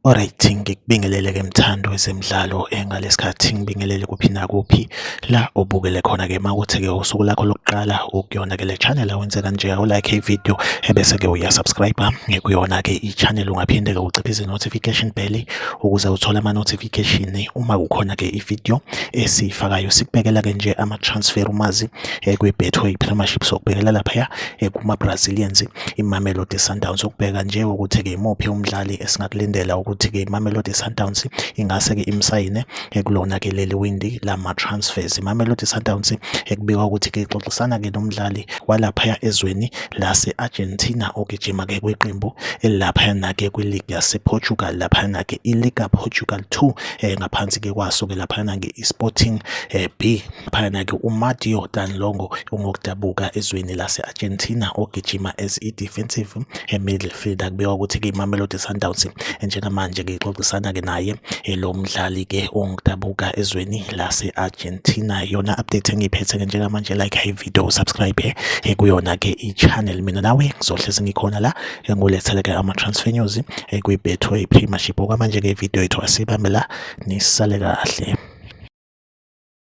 Alright, ngikubingelele ke mthando wezemidlalo engalesikhathi eh, ngibingelele kuphi nakuphi la obukele khona ke makuthi ke usuku lakho lokuqala ukuyona ke le channel awenze kanje u like ivideo ebese ke uya subscribe ah, ngikuyona ke i channel ungaphinde ke uciphize notification bell ukuze uthole ama notification uma kukhona ke ivideo esiyifakayo sikubekela ke nje ama transfer umazi eh, kwi Betway Premiership sokubekela lapha eh, kuma Brazilians iMamelodi Sundowns ukubheka nje ukuthi ke imuphi umdlali esingakulindela ukuthi ke iMamelodi Sundowns ingase ke imsayine eh, kulona ke leli windi lama transfers iMamelodi Sundowns ekubikwa ukuthi ke ixoxisana ke nomdlali walapha ezweni lase Argentina ogijima ke kwiqembu elapha na ke kwi league yase Portugal lapha na ke i Liga Portugal 2 eh, ngaphansi ke kwaso ke laphana ke iSporting eh, B phana ke uMatteo Danlongo ungokudabuka ezweni lase-Argentina ogijima as i-defensive eh, midfielder kubekwa ukuthi ke iMamelodi Sundowns eh, njengamanje ke ixoxisana ke naye eh, lo mdlali ke ongokudabuka ezweni lase-Argentina yona update engiyiphethe ke njengamanje like high video subscribe eh, kuyona ke i-channel mina nawe ngizohlezi ngikhona la engulethele ke ama-transfer news eh, kwi-betway premiership okwamanje-ke ividiyo yethu asibambe la nisale kahle